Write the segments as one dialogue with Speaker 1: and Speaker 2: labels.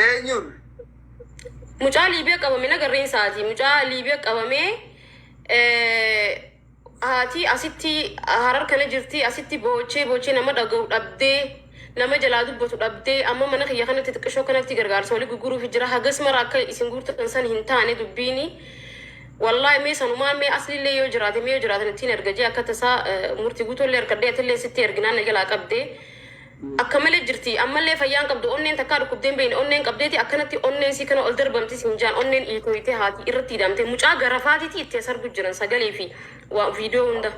Speaker 1: Eenyuun?
Speaker 2: Mucaa
Speaker 1: Liibiya qabame na garreen isaati. Mucaa Liibiya qabamee eh, haati asitti harar kana jirti asitti boochee boochee nama dhaga'u dhabdee nama jalaa dubbatu dhabdee amma mana kiyya kanatti xiqqishoo kanatti gargaarsa walii gurguruuf jira hagas mara akka isin guurtan san hin taane dubbiini. Wallaahi mee sanumaan mee asliillee yoo jiraate mee yoo jiraatan ittiin erga jee akka tasaa eh, murtii guutuullee harkadhee atillee sitti erginaan na jalaa qabdee. Akka malee jirti. Ammallee fayyaa hin qabdu. Onneen takkaa dhukkubdee hin beeyne. Onneen qabdeeti akkanatti onneen isii kana ol darbamti siin jaan. Onneen iitooytee haati irratti ida'amtee. Mucaa garafaatiiti itti as argu jiran sagalee fi waa viidiyoo hunda.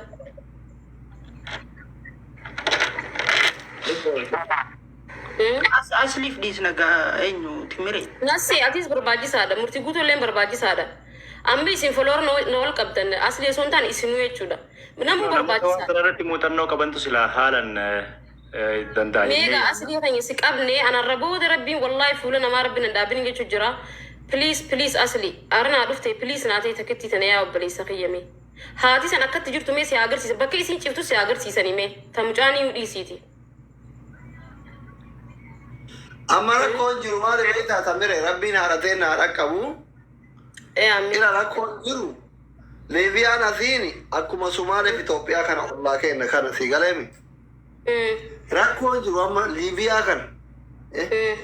Speaker 1: Hmm?
Speaker 3: As asliif dhiisna gaa eenyu timire. Nassee atis
Speaker 1: barbaachisaadha. Murtii guutuu illee barbaachisaadha. Amma isin follower na na ol qabdan asli osoo hin taane isinuu jechuudha. Namuu Namoota waan barbaachisaadha. kana irratti muuxannoo qabantu
Speaker 4: silaa haalan eh, eh, danda'a jennee Meegaa yaadna. asli
Speaker 1: keenya si qabne anarra booda rabbiin wallaahi fuula namaa rabbiin hin dhaabin jechuun jira. Please please asli ara naa dhufte please naa ta'e takkittii tana yaa obboleessa kiyya mee. Haati san akkatti jirtu mee si haa agarsiisa bakka isiin ciftu si haa agarsiisanii mee ta mucaan iyyuu dhiisiiti.
Speaker 2: Amma rakkoon jiru maali beektaa Tamire rabbiin haadha teenna haa dhaqqabu. Ee
Speaker 1: ameen. Ira rakkoon
Speaker 2: jiru Liibiyaan asiin akkuma Sumaalee fi Itoophiyaa kana ollaa keenya kana si galeemi. Mm, Rakkoon jiru amma Liibiyaa kana. Eh, mm.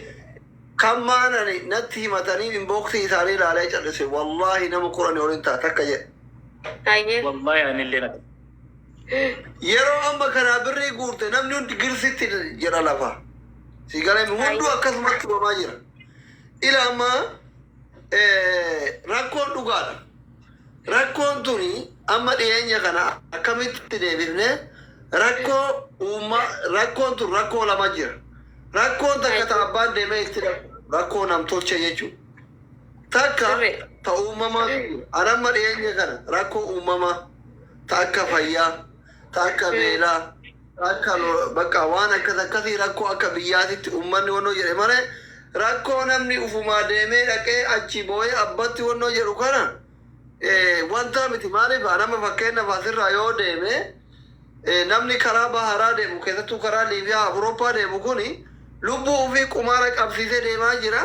Speaker 2: Kan maanani natti himatanii inboksii isaanii ilaalee callise wallaahi nama kudhanii ol hin ta'a takka jedhe. Hayyee.
Speaker 1: Wallahi anillee
Speaker 4: natti.
Speaker 2: Yeroo amma kanaa birrii guurte namni hundi girsitti jedha lafa. Si galeemi hunduu akkasumatti himamaa jira. Ila amma rakkoon dhugaadha. Rakkoon tuni amma dhiyeenya kana akkamitti deebifne rakkoo uummaa rakkoon tun rakkoo lama jira. Rakkoon takka ta abbaan deemee itti rakkoo namtolchee jechuudha. Takka ta uumamaa an amma dhiyeenya kana rakkoo uumamaa ta akka fayyaa ta akka beelaa ta akka lo- bakka waan akkas akkasii rakkoo akka biyyaatitti ummanni wannoo jedhe malee rakkoo namni ufumaa deemee dhaqee achi boo'ee abbatti wannoo jedhu kana eh, wanta miti maaliif nama fakkeenyaaf asirraa yoo deeme eh, namni karaa baharaa deemu keessattuu karaa liibiyaa awurooppaa deemu kuni lubbuu ofii qumaara qabsiisee deemaa jira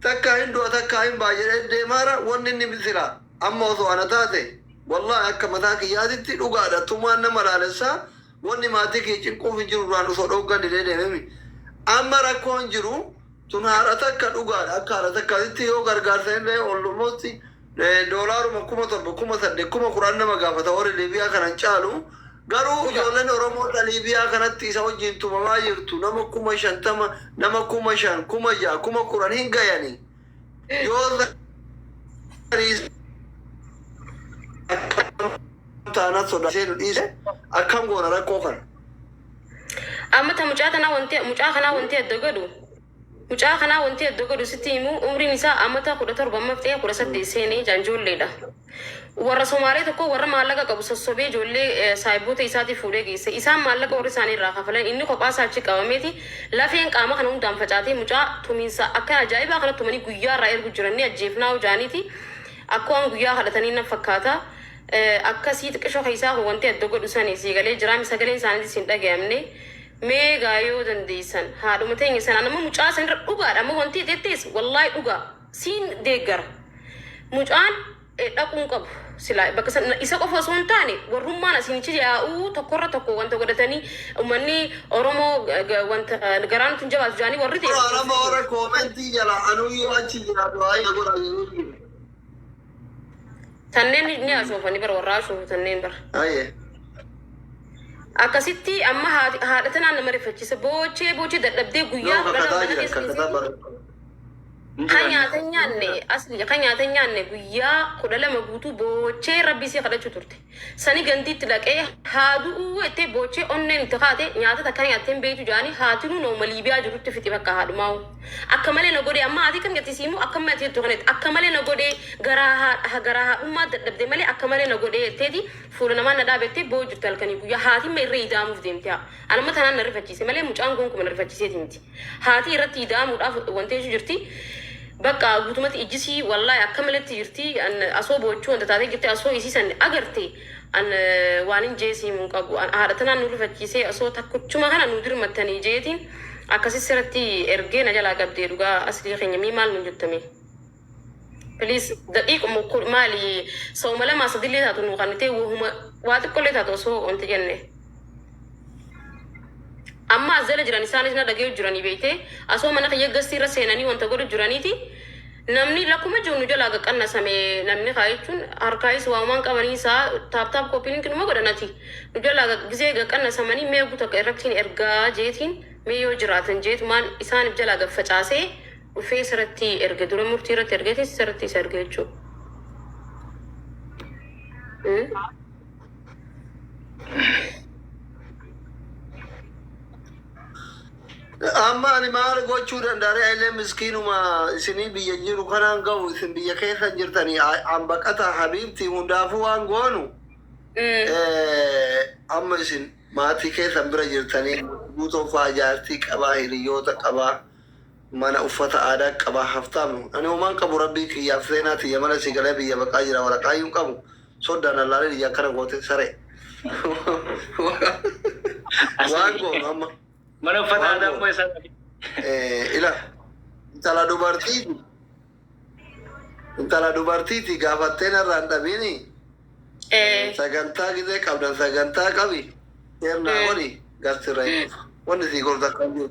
Speaker 2: takkaa hin du'a takkaa hin ba'a jedhee deemaara wanni inni sila Amma osoo ana taate wallahi akka mataa kiyyaatitti dhugaadha tumaan nama laalessa wanni maatii kiyya cinquufi jiru irraan osoo dhooggan didee deememi. Amma rakkoon jiru tun haadha takka dhugaadha akka haadha takkaatitti yoo gargaarsa hin ta'e almost doolaaruma kuma torba kuma saddeet kuma kudhan nama gaafata warri Liibiyaa kana hin caalu garuu Dhugaa. ijoolleen Oromoo ta Liibiyaa kanatti isa wajjin tumamaa jirtu nama kuma shantama nama kuma shan kuma ja'a kuma kudhan hin gayani. Yoo taanaan sodaatee nu dhiise akkam goona rakkoo kana.
Speaker 1: Amma ta mucaa tanaa wanti mucaa kanaa wanti adda godhu mucaa kanaa wanti adda godhu sitti himu umriin isaa amata kudha torba amma fixee kudha saddeet seenee jaan ijoolleedha. Warra Somaalee tokko warra maallaqa qabu sossobee ijoollee saahiboota isaatiif fuudhee geesse. Isaan maallaqa warri isaanii irraa kafalan inni kophaa isaa achi qabameeti lafeen qaama kana hundaan facaatee mucaa tumiinsa akka ajaa'ibaa kana tumanii guyyaa irraa ergu jiran ni ajjeefnaa hoo jaaniiti akka waan guyyaa kadhatanii nan fakkaata akkasii xiqisho keessaa koo wanti adda godhu sani sii galee jiraami sagaleen isaaniitis hin dhagayamne mee gaa yoo dandeessan haadhuma teenya sana nama mucaa sanirra dhugaadha amma wanti jettees wallaahi dhugaa Siin deeggara. Mucaan dhaquu hin qabu silaa bakka san isa qofa osoo hin taane warrummaan asiinichi yaa'uu tokkorra tokko wanta godhatanii ummanni Oromoo ga- ga- wanta garaa nutti hin jabaatu jaanii warri ta'e Ora nama ora koomentii jala anuu yoo achi jira
Speaker 2: du'aa ija godha jedhuu jiru.
Speaker 1: tanneen ni haasofani bara warraa haasoofu tanneen bara. Aye. Akkasitti amma haati- haadha tanaan nama rifachiisa boochee boochee dadhabdee guyyaa Yoo kudhan kakkataa mana jira keessa kakkataa dhiisee- bara. Kan nyaata hin nyaanne asli kan nyaata hin nyaanne guyyaa kudha lama guutuu boochee rabbii isii kadhachuu turte. Sani gandiitti dhaqee haa du'uu jettee boochee onneen itti kaate nyaata takka nyaattee hin beektu jedhanii haatinuu nama Liibiyaa jirutti fixi bakka haadhumaa'u. Akka malee na godhee amma haatii kam jetti siimuu akka malee ati jettu kanatti akka malee na godhee garaa haadha garaa haadhummaa dadhabde malee akka malee na godhee jetteeti fuula namaa na dhaabettee boo'u jirti halkanii guyyaa haatimma irra idaamuuf deemte haa. Anamma tanaan na rifachiise malee mucaan goonkuma na rifachiiseeti miti. Haatii irratti ida'amuudhaaf wanteechu jirti. Bakka guutumatti ijjisii wallahi akka maletti jirti. An asoo boochuu wanta taatee jirti asoo isii san agarte an waanin jee sii mun qabu. An haadha tanaan nu rifachiisee asoo takkuchuma kana nu dirmattanii jeetiin akkasi siratti ergee na jalaa qabdee dhugaa aslii keenya mii maal nun jettamee. Please daqiiquma ukkuu maali sooma lamaa sadillee taatu nuu kannitee wahuma waa xiqqollee taatu osoo wanti jenne. Amma as jala jiran isaanis na dhaga'u jiranii beektee asoo mana kiyya gastii irra seenanii wanta godhu jiraniiti namni lakkuma jiru nu jalaa qaqqannasame namni kaa jechuun harkaayis waamaan qabanii isaa taaptaap kooppiin kinuma godhanati nu jalaa gaq- gisee qaqqannasamanii mee guutu akka irrattiin ergaa jeetiin mee yoo jiraatan jeetumaan isaaniif jalaa gaffacaasee dhufee isa irratti erge dura murtii irratti ergeetis isa irratti isa erge jechuudha.
Speaker 2: Mm. Amma ani maal gochuu danda'a ree illee miskiinuma isinii biyya jiru kanaan ga'u isin biyya keessa jirtanii hambaqata habiibti hundaafuu waan goonu Mm. eh, amma isin maatii keessan bira jirtanii guutuun fa'aa jaartii qabaa hiriyoota qabaa mana uffata aadaa qaba haftaam ani homaan qabu rabbii kiyyaaf seenaa tiyya mana sii galee biyya baqaa jira waraqaayyuu hin qabu soddaan allaalee niyya akkana goote saree waan goonu amma Mana uffata Waan aadaa
Speaker 4: goone. immoo eessaa dhabe? Eh, ila
Speaker 2: intala dubartiiti intala dubartiiti gaafattee narraa hin dhabiini Eh, sagantaa gidee qabdan sagantaa qabi seernaa Eh. godhi gastirra hin dhufa wanni sii gorsa kan jiru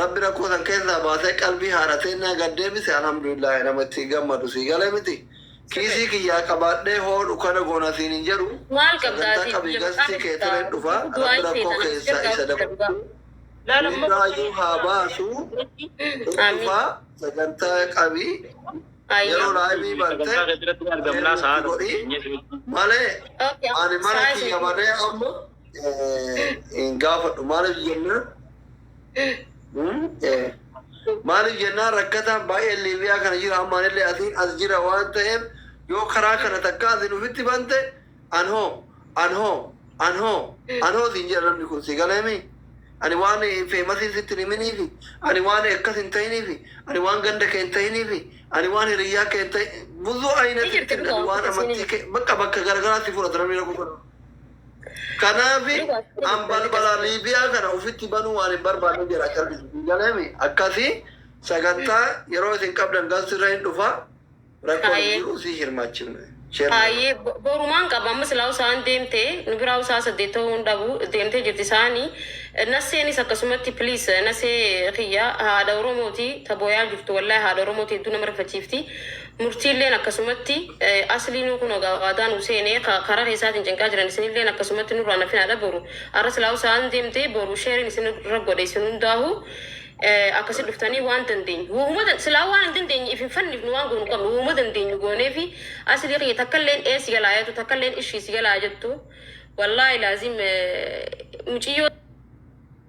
Speaker 2: Rabbi rakkoo san keessaa baasee qalbii haadha teennaa gad deebise alhamdulillaahi nama itti gammadu sii galee miti kiisii kiyyaa qabaadhee hoo dukana goona siin hin jedhu sagantaa
Speaker 1: qabii gastii kee
Speaker 2: tireen dhufa rabbi rakkoo keessaa isa dabarsuu hundaayuu haa baasu hin dhufa sagantaa qabii yeroo laayivii bantee deebiitti godhii malee ani mana kiyya barree amma hin gaafadhu maaliif jennaan maaliif jennaan rakkataan baay'een liibiyaa kana jira ammaan illee asiin as jira waan ta'eef yoo karaa kana takka ati nufitti bante anhoo anhoo anhoo anhoo siin jedha namni kun si galeemi ani waan feemasiin sitti hin himiniifi ani waan akkas hin ta'iniifi ani waan ganda kee hin ta'iniifi ani waan hiriyyaa kee hin ta'in buzuu ayinati Ni jirti, ani waan amantii kee bakka bakka garagaraatti fudhata namni rakkoo kana. Kanaaf an balbala Liibiyaa kana ofitti banuu waan hin barbaanne jedha callisiti galeemi akkasi sagantaa yeroo isin qabdan gas irra hin dhufa rakkoo Haayee. jiru si hirmaachifne. Share godhaa. Haayee
Speaker 1: bo- borumaan qaba amma silaa usaan deemte nu biraa usaa saddeet ta'uu hin dhabu deemtee jirti isaani nasseenis akkasumatti please nassee kiyya haadha oromooti ta boyaa jirtu wallahi haadha oromooti hedduu nama rifachiifti Murtiilleen akkasumatti, Aslii nuu kunoo gaa waadaa nuu seenee ka karaa keessaatiin cinqaa jiran isinilleen akkasumatti nurraa hin hafinaadha boru arra silaahuu sa'aan deemte boru share-in isinirra godha isin hundaahuu akkasi dhuftanii waan dandeenyu wohuma dan silaahuu waan hin dandeenye if hin fannifnu waan goonu qabnu wohuma dandeenyu gooneefi Aslii kiyya takkalleen ee si jalaa yatu takkalleen ishii si jalaa jettu wallaahi laazim muciyyoo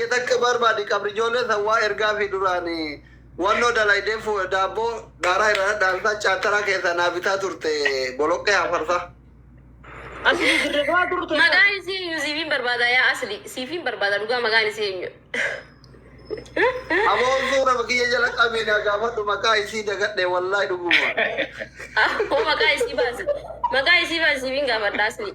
Speaker 2: Ati takka barbaadi qabri ijoollee san waa ergaafi duraan wannoo dalaydee daabboo daaraa irraa dhadhaamsaa chaataraa keessaa naa bitaa turte boloqqee hafarsaa.
Speaker 3: Asli dirre dawaa turte. Magaan isii eenyu siifiin
Speaker 1: barbaada yaa asli siifiin barbaada dhugaa magaan isii eenyu.
Speaker 2: Aboon suura kiyya jala qabii naa gaafadhu maqaa isii dagadhe wallahi dhuguma. Akkoo
Speaker 1: maqaa isii baasi. Maqaa isii baasi siifiin gaafadha asli.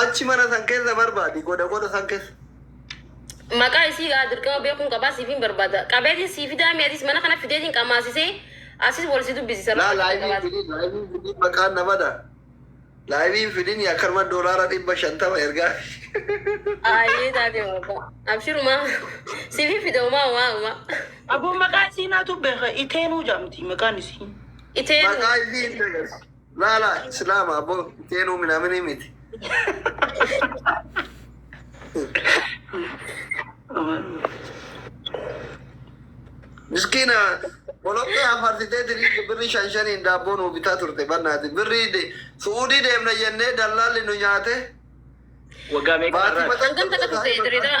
Speaker 2: Achi mana san keessa barbaadi goda goda san keessa.
Speaker 1: Maqaa isii gaa dirqama beekuun qabaa siifin barbaada. Qabeetiin sii fidaa mee atis mana kana fideetiin qamaasisee asis wal si dubbisisa. Laa Rakkoo laayivii qabaate. fidin laayivii
Speaker 2: fidin maqaan na bada. Laayivii fidin akkanuma doolaara dhibba shantama ergaa.
Speaker 1: Aayee taatee maqaa. Abshirumaa. Siifin fida umaa umaa umaa. Aboo maqaa
Speaker 3: isii naatu beeka iteenuu jaamti maqaan isii. Iteenuu. Maqaa isii
Speaker 1: hin dagas.
Speaker 2: Laala islaama abbo teenu minamini miti. Miskiina boloqqee hafarsitee tirii birri shan shaniin daabboo nuu bitaa turte bannaati. Birri de- su'uudii deemna jennee dallaalli nu nyaate. Waggaa
Speaker 4: meeqa Baatii irraa? mataa- Hangam takka turte
Speaker 1: Dirreedaa?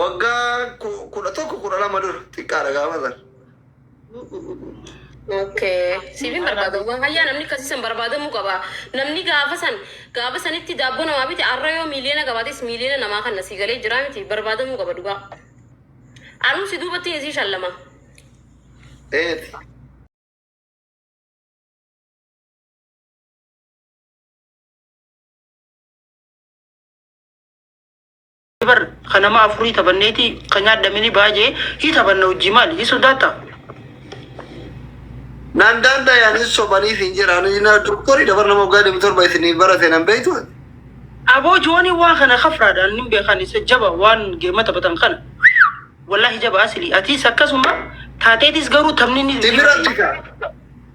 Speaker 2: Waggaa 11 12 dura xiqqaadha gaafa sana.
Speaker 1: Okay. Siifin barbaada. Wahayyaa namni akkasii san barbaadamuu qaba. Namni gaafa san gaafa sanitti daabboo namaa bite arra yoo miiliyoona qabaates miiliyoona namaa kanna sii galee jiraa miti barbaadamuu qaba dhugaa. Anuu si duubattiin isii shallama.
Speaker 2: Eeti.
Speaker 3: bar kan nama afurii taphanneeti kan nyaadhamini baay'ee hii taphanna hojii maali hii sodaata.
Speaker 2: Nan danda'an hin sobaniif hin jedhaan na doktorii dabar nama waggaa deemu torba isinii barate nan beektu. Aboo
Speaker 3: joonii waan kana kafraadhaan hin beekan isa jaba waan geema taphatan kana. Wallaahi jaba asili atiis akkasuma taateetis garuu taphni ni Sibiratti kaa.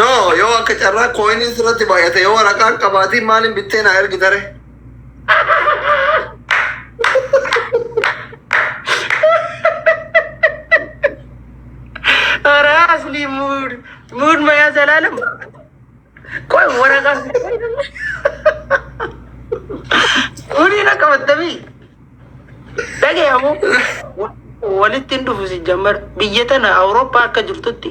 Speaker 2: No, yoo akka carraa kooyiniin sirratti baay'ate yoo waraqaan qabaatiin maaliin bittee naa ergi tare.
Speaker 3: Ora asli mood. Mood maya zalalam. Koi waraka. Uni na kamatami. Dhagayamu walitti hin dhufu sijjammar biyya tana Awurooppaa akka jirtutti